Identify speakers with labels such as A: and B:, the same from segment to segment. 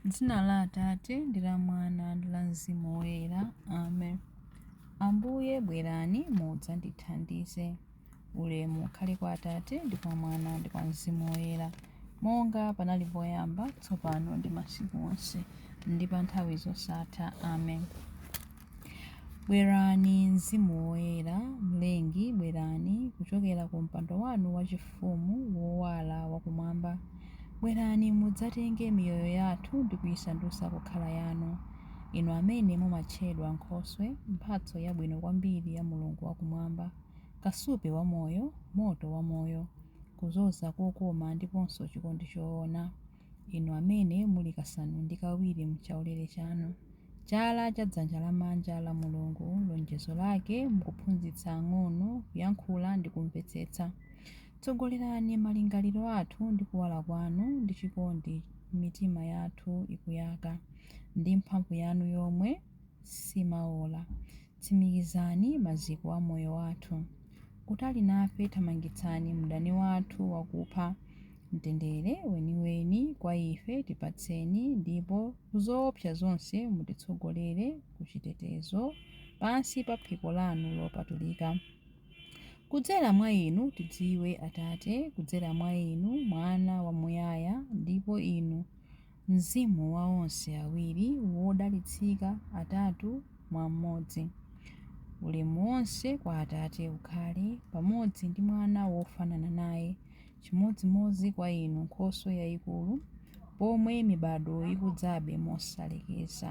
A: M'dzina la Atate, ndi la Mwana, ndi la Mzimu Woyera. Amen. Ambuye, bwerani mudzandithandize. Ulemu ukhale kwa Atate, ndi kwa Mwana, ndi kwa Mzimu Woyera, monga panali poyamba, tsopano, ndi masiku onse, ndi pa nthawi zosatha. Amen. Bwerani, Mzimu Woyera, Mlengi, bwerani kuchokera ku mpando wanu wachifumu wowala wa kumwamba. Bwerani mudzatenge miyoyo yathu ndi kuisandutsa kukhala yanu, inu amene mumatchedwa nkhoswe, mphatso yabwino kwambiri ya Mulungu wa Kumwamba, kasupe wa moyo, moto wa moyo, kudzoza kokoma, ndiponso chikondi choona. inu amene muli kasanu ndi kawiri m'chaulere chanu, chala cha dzanja lamanja la Mulungu, lonjezo lake, mukuphunzitsa ang'ono kuyankhula ndi kumvetsetsa. Tsogolerani malingaliro athu ndi kuwala kwanu ndi chikondi mitima yathu ikuyaka ndi mphamvu yanu yomwe simaola. Tsimikizani maziko a moyo wathu. Kutali nafe, thamangitsani mdani wathu wakupha. Mtendere weniweni kwa ife tipatseni, ndipo ku zoopsa zonse mutitsogolere ku chitetezo pansi pa phiko lanu lopatulika. Kudzera mwa Inu tidziwe, Atate, kudzera mwa Inu, Mwana wamuyaya, ndipo Inu, Mzimu wa onse awiri wodalitsika atatu mwa mmodzi. Ulemu wonse kwa Atate ukhale, pamodzi ndi Mwana wofanana naye, chimodzimodzi kwa inu Nkhoswe yaikulu, pomwe mibadwo ikudzabe mosalekeza.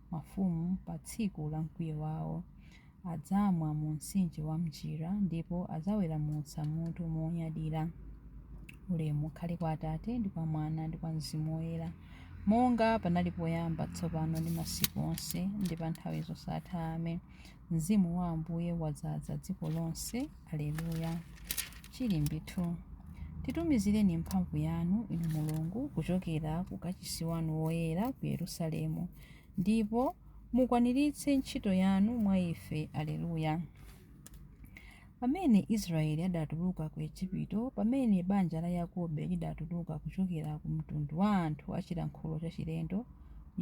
A: mafumu pa tsiku la mkwiyo wawo. Adzamwa mu mtsinje wa m'njira ndipo adzaweramutsa mutu monyadira. Ulemu ukhale kwa Atate ndi kwa Mwana ndi kwa Mzimu Woyera, monga panali poyamba, tsopano ndi masiku onse, ndi pa nthawi zosatha. Amen. Mzimu wa Ambuye wadzaza dziko lonse. Aleluya! Chilimbi 2 Titumizireni mphamvu yanu, Inu Mulungu, kuchokera ku kachisi wanu woyera ku Yerusalemu, ndipo mukwaniritse ntchito yanu mwa ife. Aleluya! Pamene Israele adatuluka ku Ejipito, pamene banja la Yakobe lidatuluka kuchokera ku mtundu wa anthu a chilankhulo chachilendo,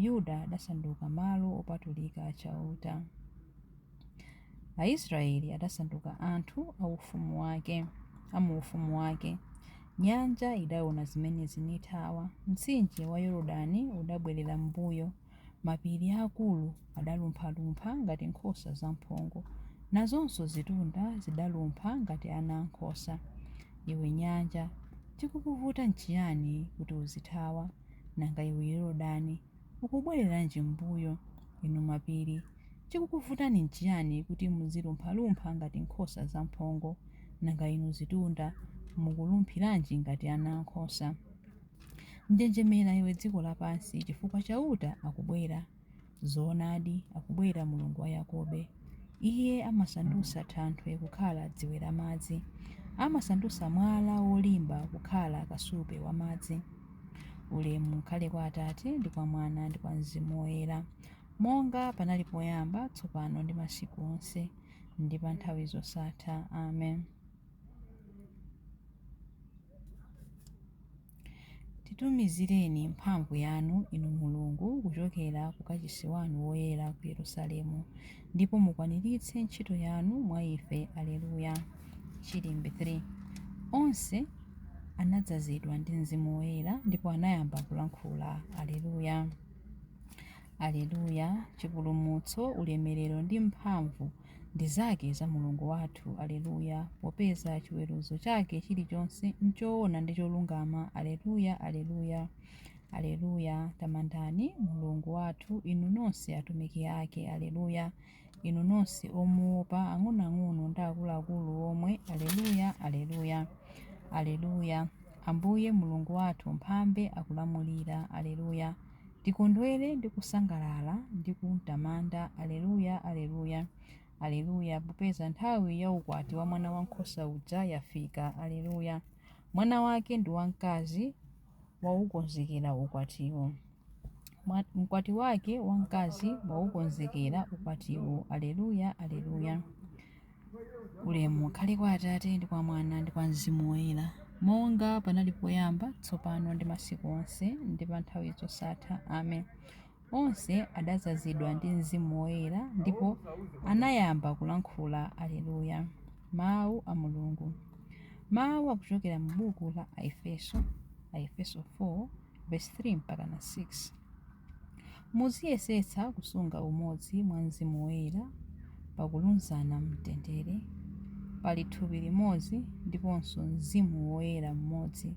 A: Yuda adasanduka malo opatulika a Chauta. Aisraele adasanduka anthu a ufumu wake, a mu ufumu wake. Nyanja idaona zimenezi nithawa, mtsinje wa Yordani udabwerera m'mbuyo. Mapiri aakulu adalumphalumpha ngati nkhosa zamphongo, nazonso zitunda zidalumpha ngati ana a nkhosa. Iwe nyanja, chikukuvuta nchiyani kuti uzithawa? Nanga iwe Yordani, ukubwereranji m'mbuyo? Inu mapiri, chikukuvutani nchiyani kuti muzilumphalumpha ngati nkhosa zamphongo? Nanga inu zitunda, mukulumphiranji ngati ana a nkhosa? Njenjemera, iwe dziko lapansi, chifukwa Chauta akubwera. Zoonadi, akubwera Mulungu wa Yakobe. Iye amasandutsa thanthwe kukhala dziwe la madzi. Amasandutsa mwala wolimba kukhala kasupe wa madzi. Ulemu ukhale kwa Atate, ndi kwa Mwana, ndi kwa Mzimu Woyera, monga panali poyamba, tsopano ndi masiku onse, ndi pa nthawi zosatha. Amen. Titumizireni mphamvu yanu, inu Mulungu, kuchokera ku kachisi wanu woyera ku Yerusalemu, ndipo mukwaniritse ntchito yanu mwa ife. Aleluya. Chilimbi 3 Onse anadzazidwa ndi Mzimu Woyera ndipo anayamba kulankhula. Aleluya. Aleluya. Chipulumutso, ulemerero ndi mphamvu ndi zake za Mulungu wathu. Alleluia, Popeza chiweruzo chake chilichonse n'choona ndi cholungama. Alleluia, Alleluia, Alleluia, Tamandani Mulungu wathu, inu nonse atumiki ake. Alleluia, Inu nonse omuopa, ang'onoang'ono ndi akuluakulu omwe. Alleluia, Alleluia, Alleluia, Ambuye Mulungu wathu Mphambe akulamulira. Alleluia. Tikondwere ndi kusangalala ndi kumtamanda, Aleluya, Aleluya, Aleluya, popeza nthawi ya ukwati wa Mwana Wankhosa uja yafika, Aleluya, Mwana wake ndi wamkazi waukonzekera ukwatiwo. Mkwati wake wamkazi waukonzekera ukwatiwo, Aleluya, Aleluya. ulemu ukhale kwa atate ndi kwa mwana ndi kwa mzimu woyera monga panali poyamba tsopano ndi masiku onse ndi pa nthawi zosatha amen onse adazazidwa ndi mzimu woyera ndipo anayamba kulankhula aleluya mawu a mulungu mawu akuchokera mu buku la aefeso aefeso 4 verse 3 mpaka na 6 Muziyesetsa kusunga umodzi mwa Mzimu Woyera pakulunzana m'mtendere. Pali thupi limodzi ndiponso Mzimu Woyera mmodzi,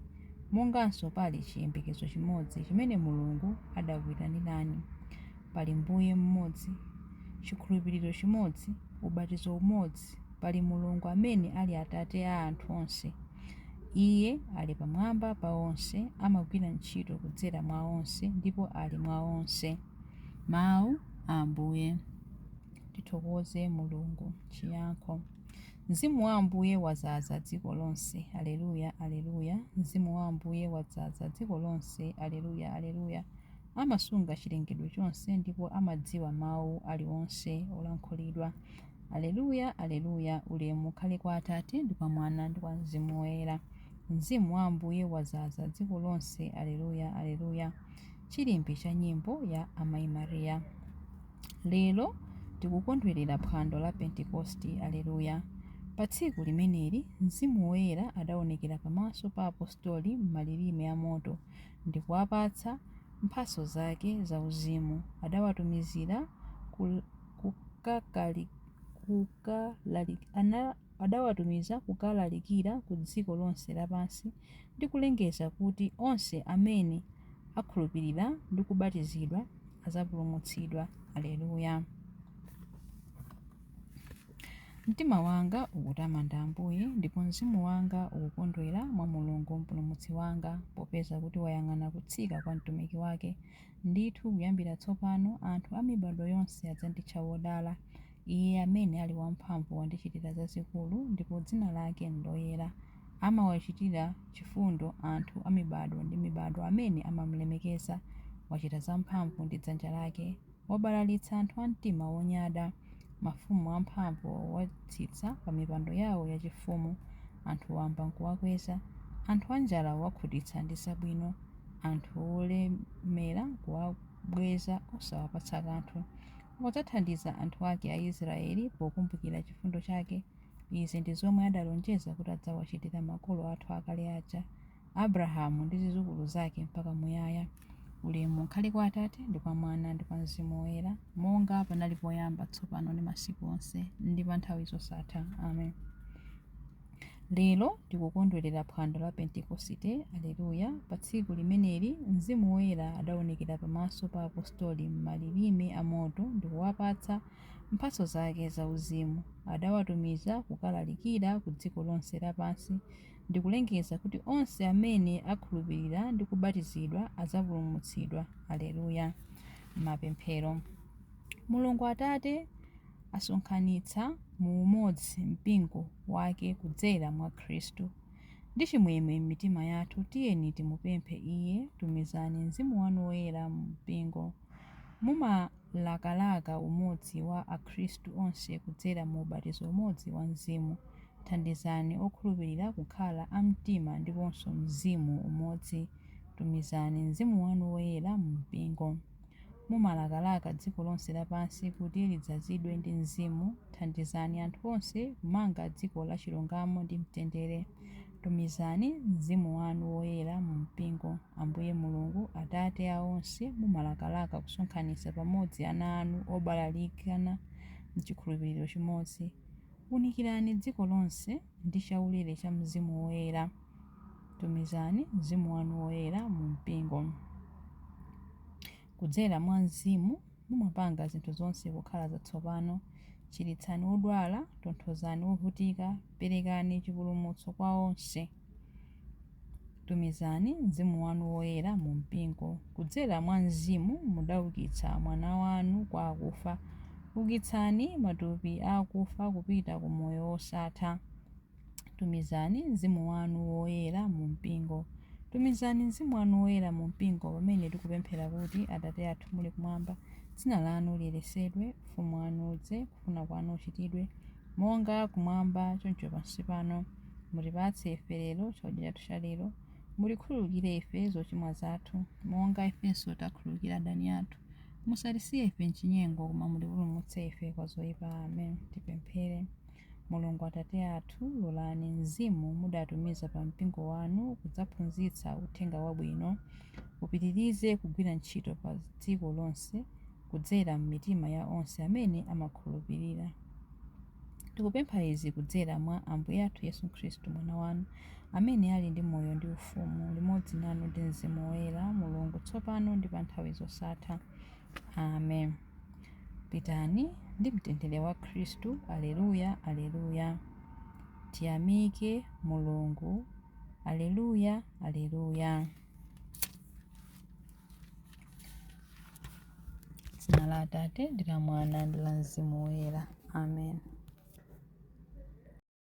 A: monganso pali chiyembekezo chimodzi chimene Mulungu adakuitanirani. Pali Mbuye mmodzi, chikhulupiriro chimodzi, ubatizo umodzi, pali Mulungu amene ali Atate a anthu onse. Iye ali pamwamba pa onse, amagwira ntchito kudzera mwa onse, ndipo ali mwa onse. Mawu a Ambuye. Tithokoze Mulungu. Chiyankho. Mzimu wa Ambuye wazaza dziko lonse. Aleluya, aleluya! Mzimu wa Ambuye wadzaza dziko lonse. Aleluya, aleluya! Amasunga chilengedwe chonse ndipo amadziwa mawu aliwonse olankhulidwa. Aleluya, aleluya, Ulemu ukhale kwa Atate, ndi kwa Mwana, ndi kwa Mzimu Woyera. Mzimu wa Ambuye wadzaza dziko lonse. Aleluya, aleluya. Chilimbi cha nyimbo ya Amayi Maria. Lero tikukondwerera phwando la Pentekosti. Aleluya. Pa tsiku limeneli, Mzimu Woyera adaonekera pamaso pa apostoli m'malilime a moto, ndi kuwapatsa mphatso zake zauzimu. Adawatumizira ku kukalalikira ku dziko lonse lapansi ndi kulengeza kuti onse amene akhulupirira ndi kubatizidwa azapulumutsidwa. Aleluya! Mtima wanga ukutamanda Ambuye, ndipo mzimu wanga ukukondwera mwa Mulungu Mpulumutsi wanga, popeza kuti wayang'ana kutsika kwa mtumiki wake. Ndithu kuyambira tsopano anthu a mibado yonse adzanditcha wodala. Iye amene ali wamphamvu wandichitira zazikulu ndipo dzina lake ndoyera. Amawachitira chifundo anthu a mibado ndi mibado amene amamulemekeza. Wachita zamphamvu ndi dzanja lake. Wabalalitsa anthu a mtima wonyada. Mafumu amphamvu wawatsitsa pamipando yawo yachifumu, anthu wamba n'kuwakweza, anthu anjala wawakhutitsa ndi zabwino, anthu olemera kuwabweza osawapatsa kanthu. Wadzathandiza anthu ake Aisiraeli pokumbukira chifundo chake. Izi ndi zomwe adalonjeza kuti adzawachitira makolo athu akale aja. Abrahamu ndi zizukulu zake mpaka muyaya. Ulemu ukhale kwa Atate, ndi kwa Mwana, ndi kwa Mzimu Woyera, monga panali poyamba, tsopano ndi masiku onse, ndi pa nthawi zosatha. Amen. Lero tikukondwerera phwando la Pentekosite. Aleluya! Pa tsiku limeneli Mzimu Woyera adaonekera pamaso pa apostoli m'malilime a moto ndi kuwapatsa mphatso zake zauzimu. Adawatumiza kukalalikira ku dziko lonse lapansi Ndi kulengeza kuti onse amene akhulupirira ndi kubatizidwa adzapulumutsidwa. Aleluya! Mapemphero. Mulungu Atate asonkhanitsa mu umodzi mpingo Wake kudzera mwa Khristu. Ndi chimwemwe m'mitima yathu tiyeni timupemphe Iye, Tumizani Mzimu wanu Woyera mu mpingo. Mumalakalaka umodzi wa Akhristu onse kudzera mu ubatizo umodzi wa Mzimu. Thandizani okhulupirira kukhala a mtima ndiponso mzimu umodzi. Tumizani Mzimu wanu Woyera mu mpingo. Mumalakalaka dziko lonse lapansi kuti lidzazidwe ndi Mzimu. Thandizani anthu onse kumanga dziko la chilungamo ndi mtendere. Tumizani Mzimu wanu Woyera mu mpingo, Ambuye Mulungu, Atate a onse, mumalakalaka kusonkhanitsa pamodzi ana anu obalalikana m'chikhulupiriro chimodzi. Unikirani dziko lonse ndi chaulere cha Mzimu Woyera. Tumizani Mzimu wanu Woyera mu mpingo. Kudzera mwa mzimu, mumapanga zinthu zonse kukhala zatsopano. Chiritsani odwala, tonthozani ovutika, perekani chipulumutso kwa onse. Tumizani Mzimu wanu Woyera mu Mpingo. Kudzera mwa Mzimu mudaukitsa Mwana wanu kwa akufa. Ukitsani matupi a akufa kupita ku moyo wosatha. Tumizani Mzimu wanu Woyera mu mpingo. Tumizani Mzimu wanu Woyera mu mpingo pamene tikupemphera kuti, Atate athu muli kumwamba, dzina lanu liyeretsedwe, ufumu wanu udze, kufuna kwanu kuchitidwe, monga kumwamba choncho pansi pano. Mutipatse ife lero chakudya chathu cha lero. Mutikhululukire ife zochimwa zathu, monga ifenso takhululukira adani athu. Musatisiye ife m'chinyengo, koma mutipulumutse ife kwa zoipa. Amen. Tipemphere. Mulungu Atate athu, lolani Mzimu mudatumiza pa Mpingo wanu kudzaphunzitsa Uthenga Wabwino upitirize kugwira ntchito pa dziko lonse kudzera m'mitima ya onse amene amakhulupirira. Tikupempha izi kudzera mwa Ambuye athu Yesu Khristu, Mwana wanu, amene ali ndi moyo ndi ufumu limodzi nanu ndi Mzimu Woyera, Mulungu, tsopano ndi pa nthawi zosatha. Amen. Pitani ndi mtendere wa Khristu. Aleluya, Aleluya! Tiyamike Mulungu. Aleluya, Aleluya! Dzina la Atate ndi la Mwana ndi la Mzimu Woyera. Amen.